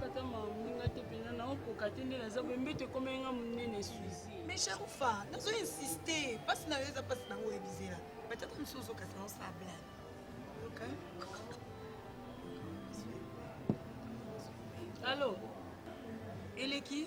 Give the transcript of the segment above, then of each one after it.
kata mamoninga te mpenza naokoka te nde naza boye mbeto ekomeli nga monene suzi mais sharufa nazo insiste mpasi na yo eza mpasi nango oyebizela batata mosusu ozokasi na osala blane okay. Allô Eleki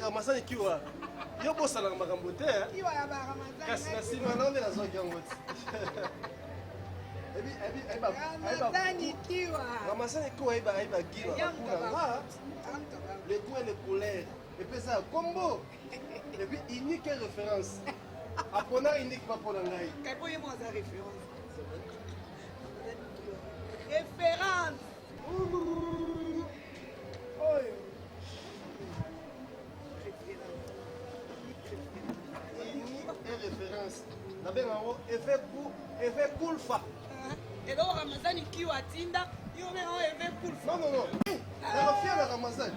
ramazani kiwa yo bosalaka makambo te eh? kasi na nsima nao nde nazwaki yango ti ramazani kiwa ayeba gila bakuna nga le goût et le couleur epesa ya kombo epuis unique référence apona unique bapona ngai référence oyo référence nabenga yango effet kulfa eloko ramazani kiwa atinda yo obenga yango effet kulfa nonono eh, eh. nakofia na ramazani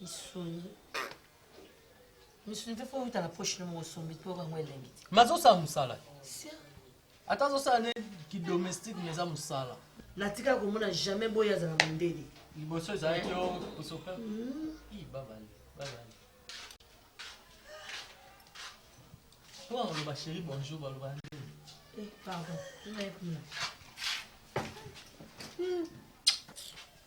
misuni misuni mpe fo outa na poche no moko osombi mpe oyo yango elengi te mazosala mosala ata azosala nde kidomestique mais eza mosala natikala komona jamais boye azala mondele liboso ezalaki yo kosopa babale babale po aloba chéri bonjour baloba ndenge eh, pardon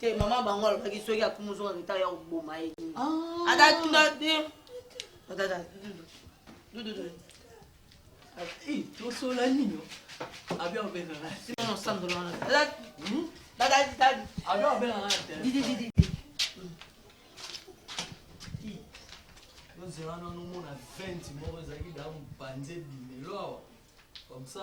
te mama bango alobaki soki akumi ozonga leta ya koboma ye ata tuna te tosola nini abi obengaka sima nosandola wana abi obengaka ozela nano omona 20 moko ezalaki da mpanze bimelo awa comme ça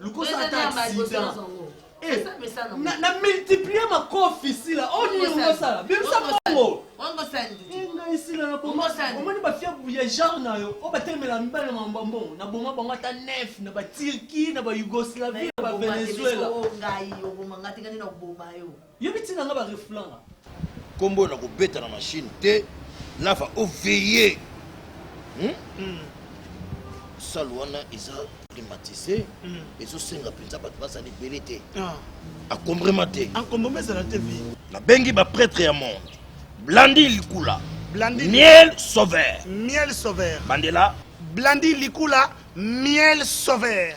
lukosa ata accident eh, na multiplier makofi sila oyo nini okosala bimisa mbongo ngai sila naomoni bafia ya genre na yo oyo batelemela mibale na mambo ya mbongo na boma bango ata nef na baturki na bayougoslavie na bavenezuela Yo bi tina nga ba reflan nga. Kombo na ko beta na machine te. Lava o veiller. Hmm? Hmm. Salle wana eza climatisé. Hmm. Ezo senga penza bato bazali ebele te. Ah. Akombrema te. Akombrema ezala te bi. Na bengi ba prêtre ya monde. Blandi likula. Blandi miel sauveur. Miel sauveur. Bandela. Blandi likula miel sauveur.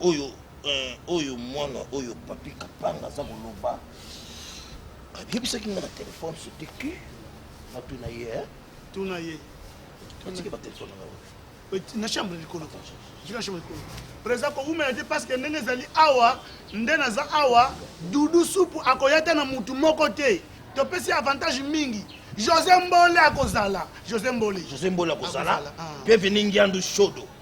oyo eh, oyo mwana oyo papi kapanga aza koloba abiyebisaki nga na telefone sote ki natuna ye eh? tuna ye atiki batelefone nga na chambre likolo na chambre likolo presa kowumela te parce que ndenge ezali awa nde naza awa dudu supu akoya te na mutu moko te topesi avantage mingi josé mbole akozala josé mbole josé mbole akozala ah. bienvenu ngiandu shodo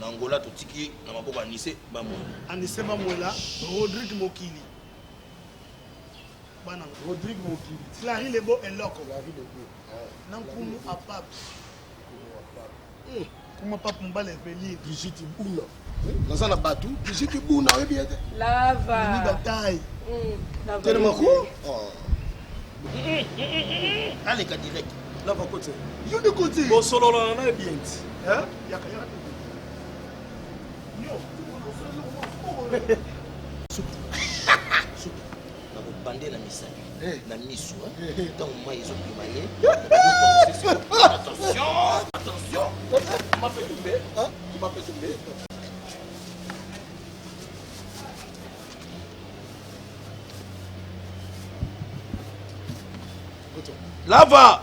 Na Angola totiki na maboko ya Anise Bamwela. Anise Bamwela, Rodrigue Mokili. Bana Rodrigue Mokili. Clary Lebo Eloko. Clary Lebo. Na Nkumu Apap. Kuma Pap Mbala Eveline. Brigitte Buna. Naza na batu. Brigitte Buna oyebi ye te. Lava. Ni bataille. Mm, Tellement ko. Oh. Aleka direct. Lava kote. Yo de kote. Bosolola na ye bien. Hein? nakobande na misapi eh. na miso ntango eh. mai ezobima ye lava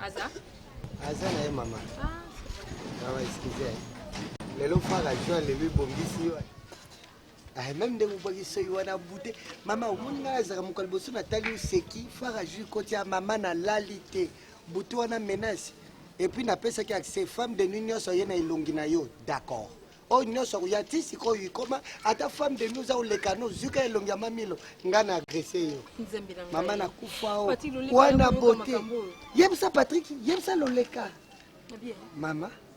aza aza na ye mama ah. awa excuse lelo faka joi lelo ebongisi yo Ah, meme ndenge obwaki soki wana bute mama omoni ngai nazalaka mokolo liboso natali oseki fara jui koti ya mama nalali te butu wana menace epuis napesaki accès femme de nuit nyonso aye na elongi na yo d'accord oyo oh, nyonso akoya ti sikoyo ikoma ata femme de nuit oza koleka no zuka elongi ya mamilo ngai na agresse yo mama nakufa o oh. wana bote yebisa patrik yebisa loleka mama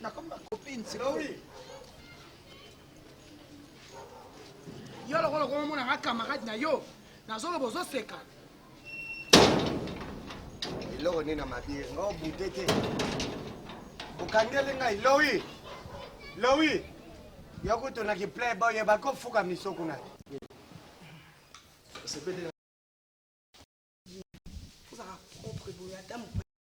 nakomi ba copine sikoyo yo lokola okomona nga camarade na yo nazoloba ozoseka eloko nini na mabie nga obute te okangeli ngai lowi lowi yo kutu na kiplay boye bakofuka miso kuna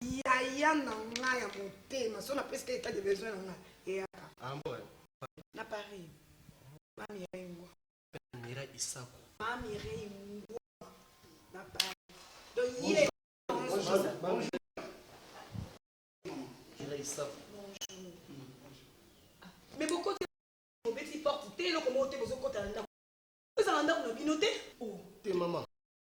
yaya na nga ya motema so napesika etat de besoin na nga eyaka ah, na paris mamirai ngwa mamirai isako mamirai ngwa na paris donc ye mais bokoti bobeti porte te eloko moko te bozokota na ndako ezala ndako na bino te oh. te mama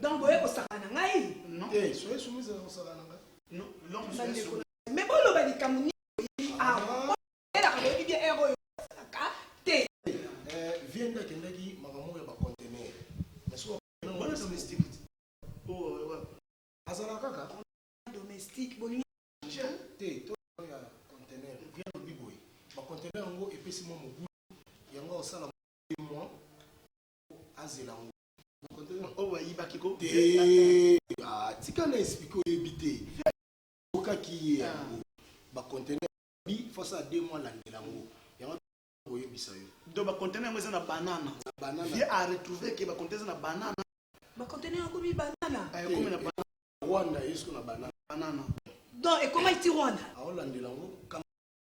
donc boye kosaka na ngai me boloba likambo nini oyebi awa elaka boyebi bia ere oyo osalaka te viende akendaki makambo ya bacontener azala kaka domestique bolingi te to ya contener viende obi boye bacontener yango epesi mwa mobu yango osala tika na explike oyebi te okaki ye yango bacontener bi fasa ya deux mois landela yango yango koyebisa yo donc bacontener yango eza na banana vie a retrouve ke bacontener eza na banana bacontener yango bi banana ekomi na banana rwanda yesu na banana banana donc ekomaki ti rwanda aolandela yango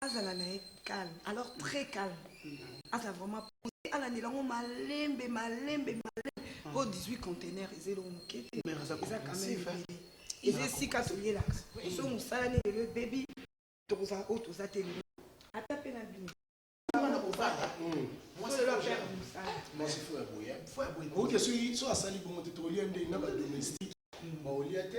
azala na ye calme alors très calme azala vraiment pose alandela yango malembe malembe malembe po 18 contenaire eza eloko moke te eza kameme eza esika toyelaka so mosala nini lelo ebebi tokozala oyo toza te lelo ata mpe na bino oke soki so asali bongo te tokolia ndenge na badomestique baolia te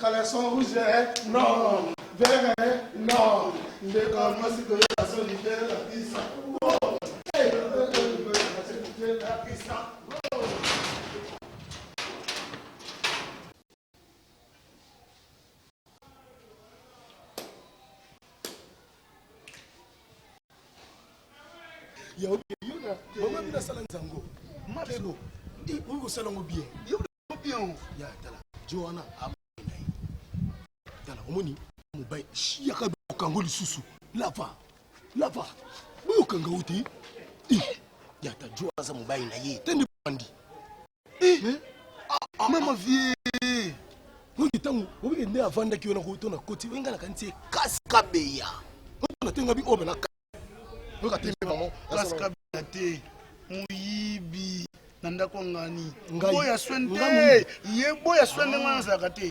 caleçon rouge eh? non vert eh? non ndeko mwasi koyoka soni te lapisa lapisa ya yona mama bino asala nzango makebo okoki kosala yango bien bien ya tala joana amona ye tala omoni mobali yaka okango lisusu lava lava boyokanga o te ya ta joa aza mobali na ye te nde bandi Eh, eh. Ah, ah, mama ah. vie oyo ntango obike nde avandaki wana koto na koti oyo ngai nakanisi ekasi kabeya oyo natenga bi oyo banaka oyo katembe bango kasi kabeya te moyibi na ndako ngani boya swende ye boya swende ngai nazalaka te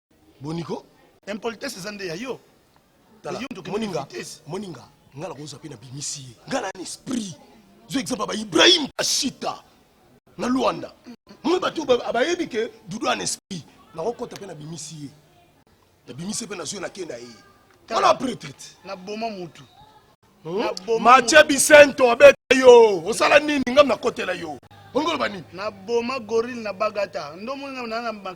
boniko impolitesse eza nde ya yo moninga moninga nga na kozwa mpe na bimisi ye nga na na esprit zo exemple ba ibrahim kashita na luanda moi bato bayebi ke dudu an esprit nakokɔta mpe na bimisi ye na bimisi mpe nazwi nakenda ye wana pretrete naboma motu hmm? matie bisento abeta yo osala nini ngam nakotela yo ongoloba nini naboma gorille na bagata ndomoni na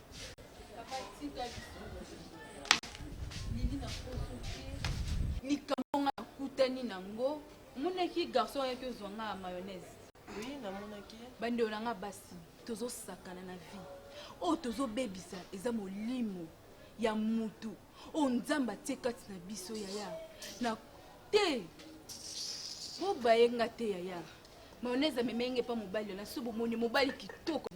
likambo nga nakutani nango omonaki garçon ayaki ozwa nga ya mayonnaise oui namonaki bandeko na nga basi tozosakana na vie oyo tozobebisa eza molimo ya mutu oyo nzambe atie kati na biso yaya na te bobaye nga te yaya mayonnaise amemenge mpa mobali na so bomoni mobali kitoko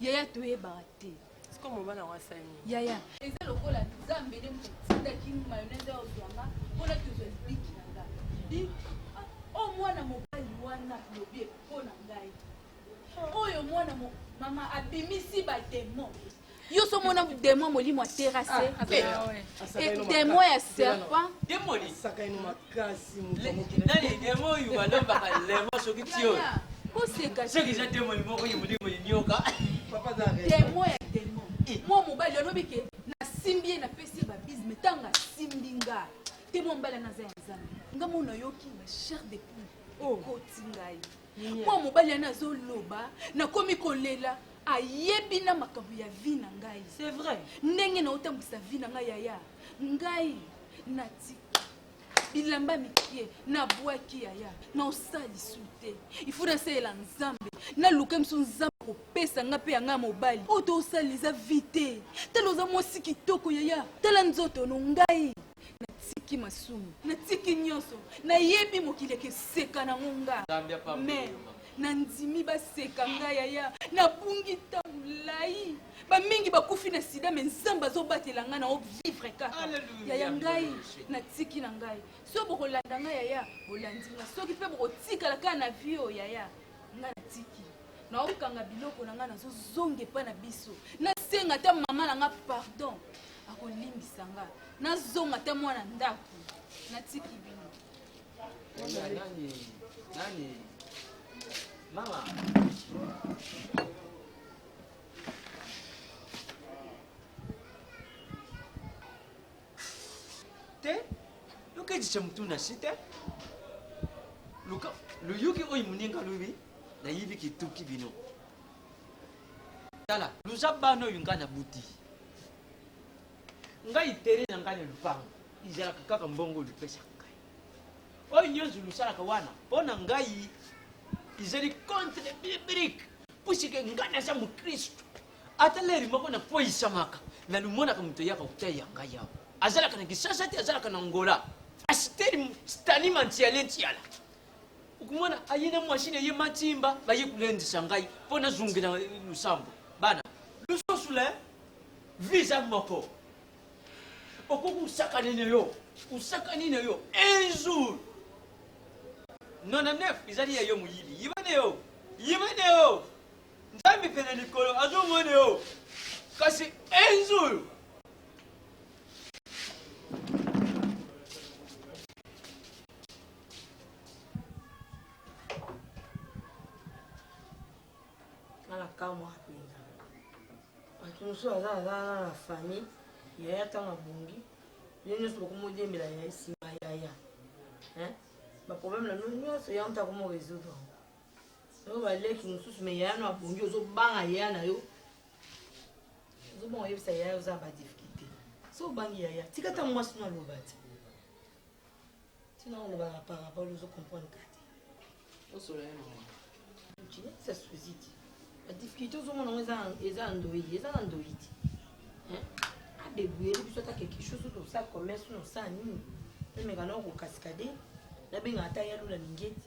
yaya toyebaka te siko mobali yango asali yaya eza lokola nzambe nde moto atindaki mayonnaise oyo ozwanga mpona tozwa libiki na nga di ah, o oh, mwana mobali wana lobi mpo na ngai oyo mwana mama abimisi bademo yo so mona demon molimo ya terase ah, eh, eh, demon ya serpent koseka demon ya demon eh. mwa mobali alobi ke nasimbi ye napesi ye babise me ntango asimbi nga te mwa mobali naza ya nzambe nga mo nayoki na chair de poule oh. ekoti ngai mwa mobali yana azoloba nakomi kolela ayebi na makambo ya vi na ngai c'est vrai ndenge naotambwisa vi na ngai yaya ngai natika bilamba mikie nabwaki yaya naosali su te ifo nasalela nzambe naluka miso nzambe kopesa nga mpe yanga mobali oyo tosala eza vi te tala oza mwasi kitoko yaya tala nzoto no ngai natiki masumu natiki nyonso nayebi mokili ekeseka nango nga mais nandimi baseka ngai yaya nabungi ntango molai bamingi bakufi na sida me nzambe azobatela ngai na ovivre kaka yaya ngai natiki na ngai soki bokolanda ngai yaya bolandi ngai soki mpe bokotikala kaka na vie oyo yaya nga natiki naokanga biloko na nga nazozonga epai na biso nasenga ata mama na nga pardon akolimbisa nga nazonga ata mwana ndako natiki bino mama te yoka ejicha mutu na shi te luka luyuki oyo muninga lubi nayibi kituki bino tala luza bana oyo ngai nabuti ngai tere na ngai na lupango izalaka kaka mbongo olupesaka ngai oyo nyonso lusalaka wana mpo na ngai izali contre biblique pusike ngai naza mokristu ata leri moko nakweyisamaka nalumonaka moto eyaka kotai ya ngai awa azalaka na kisasa te azalaka na ngola asiteri stani mantiale ntiala okomona aye na mwasi na ye matimba baye kolendisa ngai mpo nazongela losambo bana lususu le visa moko okoki kosakana na yo osakani na yo un jour 99 ezali ya yo moyibi yiba na yo yiba na yo Nzambe pene likolo azo mone yo. Kasi un jour kamwa mpenza bato mosusu aza aza na na famille yaya ntango abongi yo nyonso bokomodembela yaya nsima yaya baproblème na bino nyonso yango ntango moresoudre yango Yo ba leki mususu mais yaya no abongi ozo banga yaya na yo. Ozo banga yebisa yaya oza ba difficulté. So bangi yaya tika ta mwasi no aloba ti. Tina oloba na parabole ozo comprendre ka te. Osola ye mama. Nchi sa suzi ti. Ba difficulté ozo mona eza eza ndoyi eza na ndoyi ti. Hein? A débrouiller biso ta quelque chose to sa commerce no sa nini. Emeka na ko cascader. Na benga ata yalo la mingeti.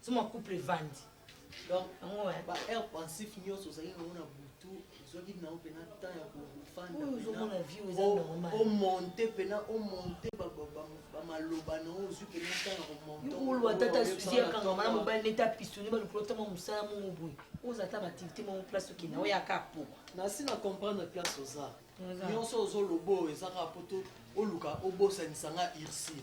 Suma couple evandi. Donc, yango eh. ba heure pensif nyonso ozali nango na butu ozwaki nango mpena temps ya kofanda omonte mpena omonte bamaloba nango ozwi mpena temps ya komonteolwa tata susi akangama na mobali nete apistoni balukolo ntama mosala mongo boye oza ata baaktivité moko place okenda oyo aka po nasi na comprendre place oza nyonso ozoloba oyo ezaka poto oluka obosanisa nga ursile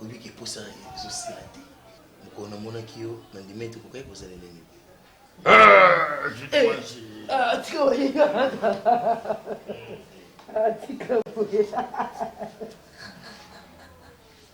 oyebiki eposa ezosila te mokolo namonaki yo na ndima ete okokaki kozala elenge atika boye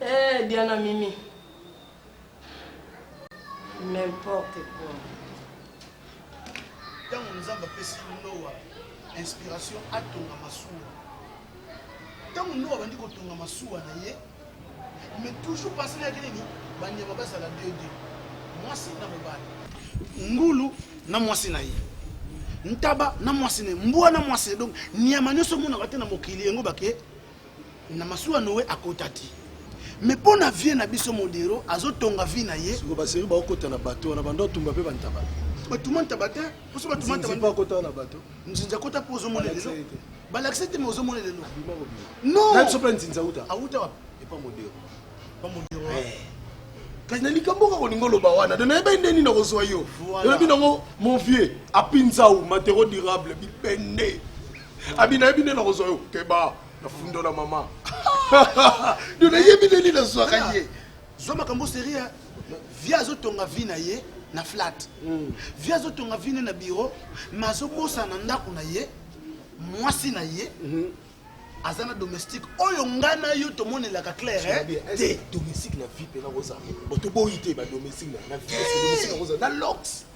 eh, Diana Mimi. N'importe quoi. ntango nzambe apesi noa inspiration atonga masuwa ntango noa abandi kotonga masuwa na ye Mais toujours passer na nini ba nyama ba sala deux deux mwasi na mobali ngulu na mwasi na ye ntaba na mwasi na ye mbwa na mwasi ye donc nyama nyonso omonaka te na mokili yango bake na masuwa noe akota te mais mpo na vie na biso modero azotonga vie na ye siko baseri baokota na bato wana bando atumba mpe bantaba batuma ntaba te mposo batuma ntaba akota na bato nzinza kota mpo ozomona lelo balakisa te ma ozomona lelo nonsope nzinza uta auta wapi epa modero pa modero eh. kasi na likambo kaka olingi oloba wana don nayebai nde nini nakozwa yo elobi nango mon vieux apinzau matero durable bipende abi nayebi nde nakozwa yo keba nafundola mama don nayebi nde nini nazwaka ye Zwa makambo serie ya vie azotonga vie na ye na flat mm. vie azotonga vie ne na biro me azobosana na ndako na ye mwasi na ye mm -hmm. aza na domestique oyo ngai na yo tomonelaka claire te domestique na vie mpe nakozala botoboyi te badomestique na vie na lox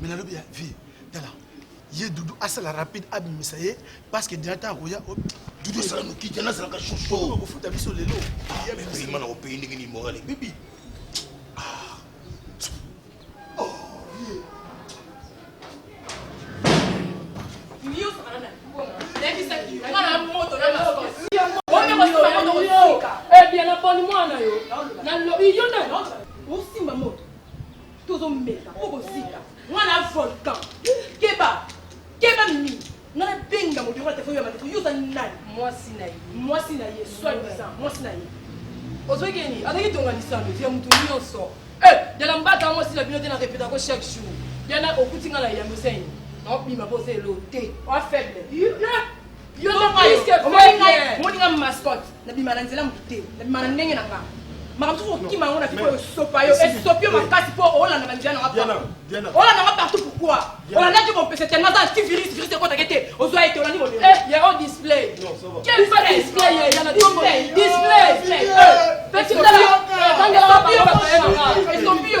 mais na lobi ya vie tala ye dudu asala rapide abimisa ye parce que diata akoya oh, dudu asala noki diana azalaka shosho kofuta biso lelo yabima na kopaye ndenge ni morale bibi Tozo meka po kozika mwana volcan. Keba keba mimi ngai nabenga moto yango na telefone ya bandeko yo oza nani mwasi na ye mwasi na ye soi disant mwasi na ye ozwaki nini azalaki tonga lisano ya moto nyonso eh, dela mbata mwasi na bino te na repeta yango chaque jour dela okuti ngai na yambo seni naobima mpo oza elo te oa faible Yo to plus que vrai bien. Moni nga mascotte na bima na nzela mutu te. Na bima na ndenge na nga. Makambo soki okima yango na vie oyo sopa yo esopi yo makasi mpo olanda banjia na nga partout. Olanda nga partout pourquoi? Olanda je kompese tellement aza anti virus virus ekotake te. Ozwa ye te olandi modele. Eh, ya o display. Quel pas display ye ya na tongo. Display. Petit yo. Esopi yo. Esopi yo.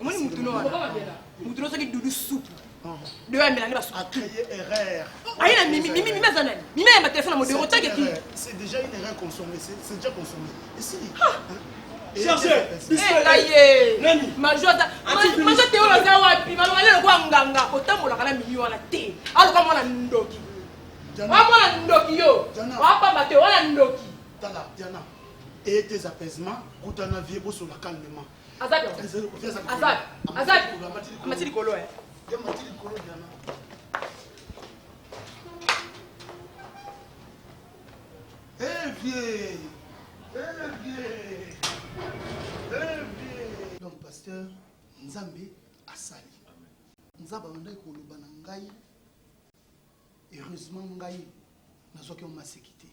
omoni mutu no wana mutu no soki dudu supu deyo amela nde basupu aye na mimi mimi mimi aza nani mimi ayamba telefone ya modero otake ki c'est déjà une erreur consommée c'est déjà consommé esili majo te oyo aza wapi malongale lokola nganga otambolaka na mimi wana te aloka mwana ndoki wa mwana ndoki yo wapamba te wana ndoki tala diana eye te apaisement kutana vie bosola calmement Azali awa. Azali. Azali. Amati likolo eh. Eh vieux. Eh vieux. Eh vieux. Donc pasteur Nzambe asali. Nzambe abandaki koloba na ngai Heureusement ngai nazwaki yango maseki te,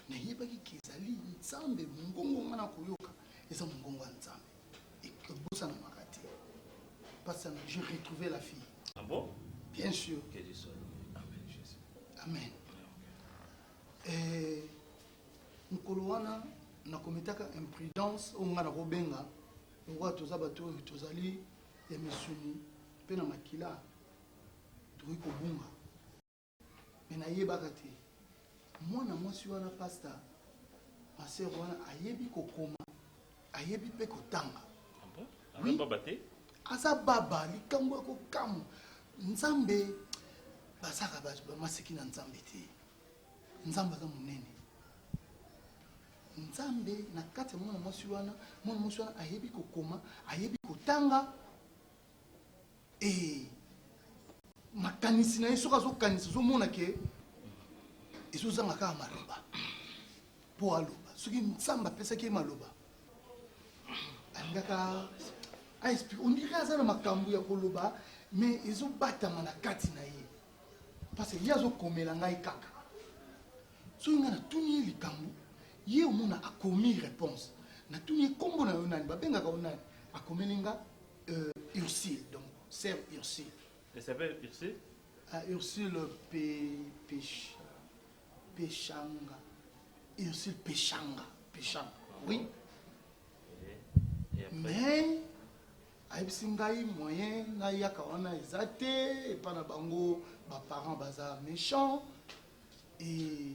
nayebaki ke ezali Nzambe, mongongo ngai nakoyoka eza mongongo ya Nzambe, ebosanamaka te. Pasi yango je retrouve la fille. Ah bon? Bien sûr. Que Dieu soit loué. Amen Jésus. Amen. Eh, mokolo wana nakometaka imprudence oyo ngai nakobenga lokola toza bato oyo tozali ya misuni mpe na makila tokoki kobunga me nayebaka te mwana mwasi wana pasta masere wana ayebi kokoma ayebi mpe kotanga ah oui. aza baba likambo ya kokamwa nzambe basaka bamaseki na nzambe te nzambe aza monene nzambe na kati ya mwana mwasi wana mwana mwasi wana ayebi kokoma ayebi kotanga ee makanisi na ye soki azokanisa ozomona ke ezozanga kaka maloba mpo aloba soki nzambe apesaki ye maloba alingaka aexplike ondire aza na makambo ya koloba me ezobatama na kati na ye parce ye azokomela ngai kaka soki ngai natuni ye likambo ye omona akomi réponse natuni ye nkombo na yo nani babengaka yo nani akomeli nga Euh, Ursule, donc, sœur Ursule. Elle s'appelle Ursule ah, Ursule Pe... Pech... Pechanga. Ursule Pechanga. Pechanga, oui. Mais, ayebisi ngai moyen nayaka wana eza te epai na bango baparent baza méchant et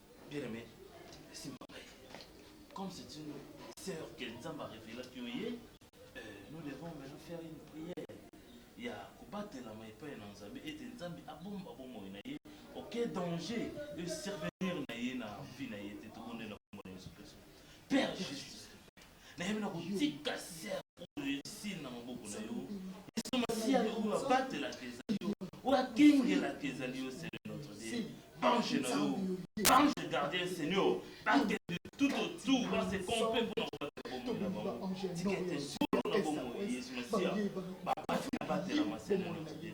Bien aimé, simba ngai. Comme c'est une sœur que Nzamba révéla que oye, euh, nous devons maintenant faire une prière ya kobatelama epai na Nzambe ete Nzambe abomba bomoi na ye oke danger de survenir na ye na vie na ye te tobondela kombo na Yesu Kristo. Père Jésus, nayebi na kotika ser oyo esili na maboko na yo yesu masiya oyo abatelaka ezali yo oyo akengelaka ezali yo seigneur notre dieu bange na yo bange gardien seigneur bake tout autour base kompe mpo na kobatela bomoi na bango tika ete zolo na bomoi yesu masiya babatela batelama seigneur notre dieu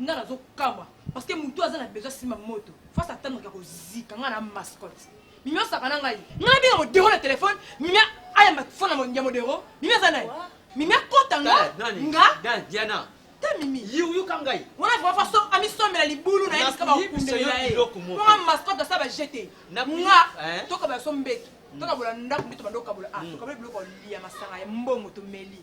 nga nazo kamwa parce que mutu aza na besoin sima moto face atendre ka kozika nga na mascotte mimi osaka na ngai nga na benga modero na telefone mimi ayamba fona ya modero mimi aza naye mimi akota nga nga diana ta mimi yoka ngai wana vrima faso amisomela libulu na ye bisika bakumbela ye mwa mascotte asa bajete nga eh? toka baso mbeto tokabola ndako nde tobanda okabola ah, mm. tokaboli biloko ya masanga ya mbongo tomeli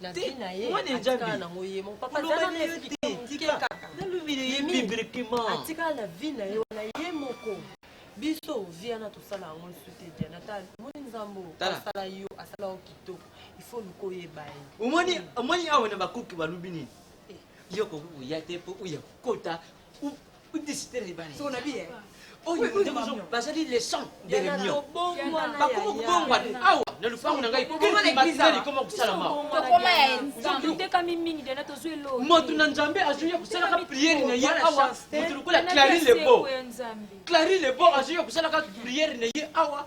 na vie na ye atikala nango ye moko papa zana na yo te kaka atikala na vie na ye wana ye moko biso vie wana tosala yango lisusu te diana ta omoni nzambo asala yo asala yo kitoko ifo luka oyeba ye omoni omoni awa na bakuki balubi nini eh. yo kokuya te mpo oya kokota bazali leson de reunion bakoma kobongwana awa na lopango na ngai koma kosalamamoto na nzambe azwi ya kosalaka priere na ye awa moto lokola clari lebo clari lebo azwi ya kosalaka priere na ye awa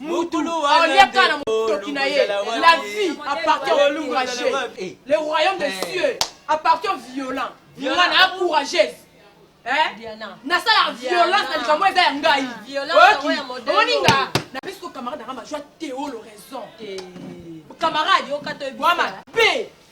mutu olia kaka na motoki na ye la vie appartient au courageux eh. le royaume de eh. cieux appartient violent mwana ya courageuse eh? nasala violence na likambo eza ya ngai omoni nga napesi ko camarade nanga majoi teolo raison camarade bwama pe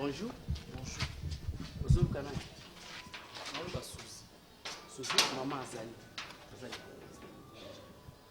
Bonjour. Bonjour. Ozoluka nani? Naoluka Susi. Susi, mama azali. Azali.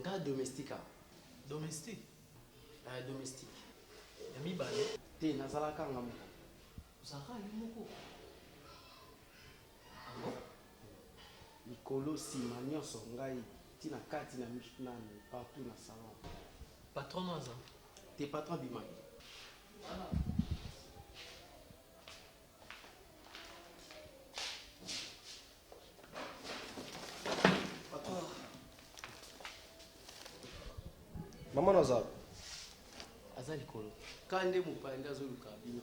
Nga domestique awa. Domestique? Eh, domestique. Ya mibale? Te, nazalaka nga moko. Ozalaka yo moko? likolo sima nionso ngai ti na kati na nanu partout na salon patron no aza te patron abimaki mama no aza aza likolo kande mopaya nde azoluka bino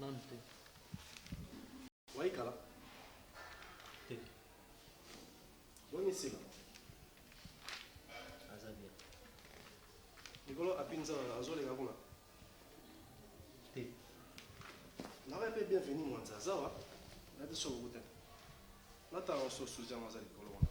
Nanu te. Wayi kala? Te. Boni sila? Aza bien. Likolo api nzala azo leka kuna? Te. Nawa pe bienvenue mwanza aza wa? Na biso buku te. Na tala oso suzi yango aza likolo wana.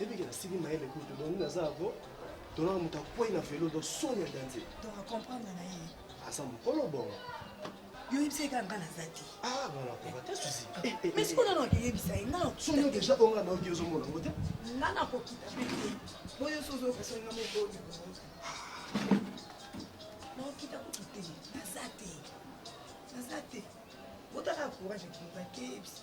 ebike nasili mayele kutu dongi naza yango tolaka moto akwei na velo do soni ya danze tokakomprendre na ye aza mokolo bongo yo yebisa ye kaka nga naza te ah, eh, eh, mais sikoyo eh. nano akeyebisa ye nga sono deja oyo nga naoki ozomona yango te nga nakokita te boyo sozokasoninga moboli naokita kutu te naza te naza te otaka courage ekimaka keyebisa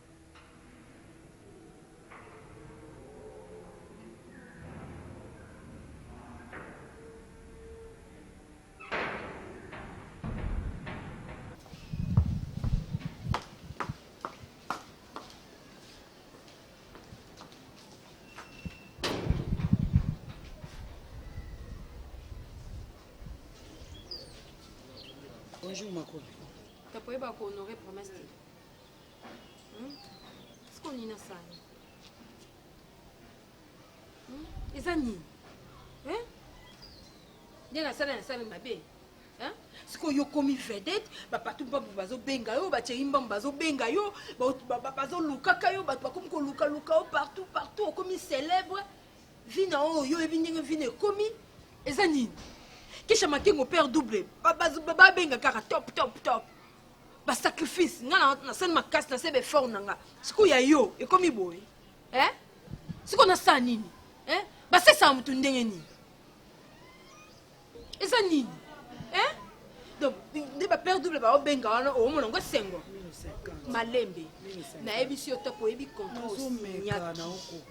bonjour makolo tapoyeba ko honore promesse te siko nini asali eza nini nde nasala nasala mabe sikoyo yo okomi vedete bapatu mbambu bazobenga yo bacei mbambu bazobenga yo bazolukaka yo bato bakomi kolukaluka yo partout partout okomi célèbre vi na oyo yo oyebi ndenge vi na ekomi eza nini kisha makengo père double babenga kaka top top top ba sacrifice nga na na sani makasi na se ba effort na nga sikoyo ya yo ekomi boye eh sikoyo nasala nini eh basesaka motu ndenge nini eza nini eh donc nde ba père double ba obenga wana omona ngo sengo malembe nayebisi yo topo oyebi contrat osinyaki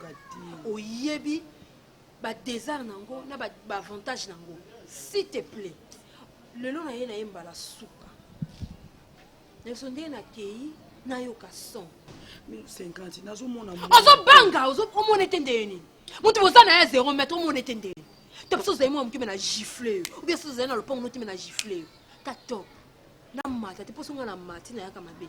oyebi ba desert na yango na ba avantage na yango s'il te plaît lelo na ye na ye mbala suka nayeso ndenge nakei nayoka son ozobanga omona ete ndeye nini moto boza na ye zero mètre omona ete ndeye to biso ozali mwa mokime na gifle yo obia soki ozali na lopango notime na gifle yo ta top namata te mposo ngai na mati nayaka mabe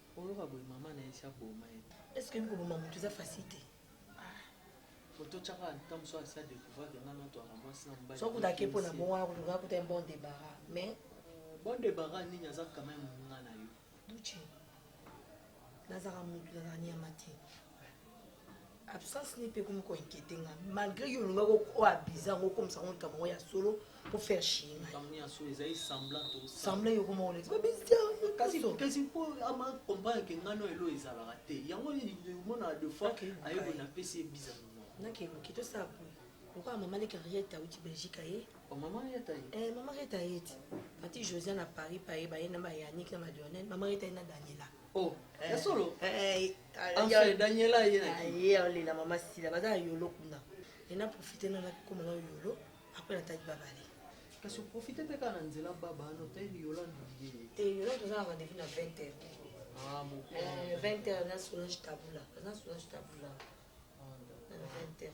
Oloba boye maman na ye si aboma ye te. Est-ce que koboma mutu eza facile te? Ah. Moto chaka en temps soit ça découvrir que nga na toi na moi sina mbali. Soit kuta kepo na bongo akuta nga kuta un bon débarras mais bon débarras nini aza quand même nga na yo. Douche. Nazaka mutu nazaka niama te. absence ni pe comme ko inquiéter nga malgré yo nga ko o abuser ngo comme ça on ka mo ya solo pour faire chier nga comme ya solo ezali semblant to semblant yo comme on est ba bizia kasi to kasi po ama comprendre que nga no elo ezala raté yango ni mo na deux fois ayo ko na pesi bizarre non na ke mo kito sa po pourquoi maman les carrières ta uti belgique aye oh, maman reta ye eh maman reta ye ti pati josiane à paris pa ye ba ye na ba yannick na madonna maman reta ye na daniela oh eh. ya solo eh, eh Enfin, Daniela aye na ki. Aye alela mama Sila baza na yolo kuna. Et na profiter na naki koma na yolo après na tali babale. Kasi profiter mpe kaka na nzela baba no tali yolo ndulie. Te yolo toza na rendez-vous na 20 heures. Ah bon. Euh, 20 heures na Solange Tabula. Na Solange Tabula. Ah, 20 heures.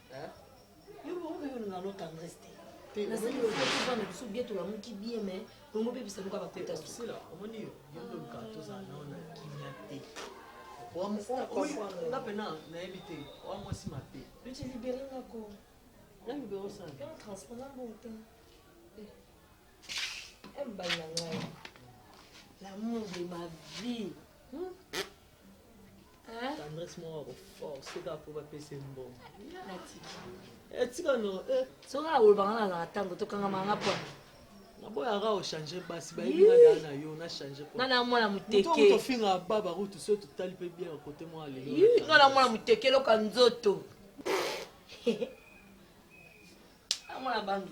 Yo bongo mpe olinga no tendresse te nasali bana biso bie tolamuki bie me bongo mpe bisa luka bakota sila omoni yo yondoluka tozala nao na kimia te nga mpena nayebi te oa mwasi mabe yote libere ngako na libere osala mpe transport na mbongo te embali na ngai l'amour de ma vie hmm? tendresse moko ako force kaka mpo bapesa ye mbongo etika no soki akolobaka na azalaka ntango tokangama nga mpo naboyaka ochange basi bayebiaa na yo na change nga na mwana motekeofinga baba kutu so totali mpe bien kote mwa lelo nga na mwana moteke eloka nzoto amwana bangi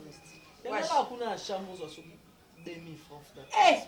kuna ya chambre ozwa soki demi franc eh!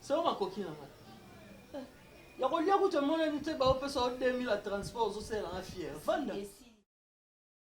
Selo makoki na ngai. Eh, ya kolia kutu emonani te baopesa yo 2000 ya transport ozosela na fiere vanda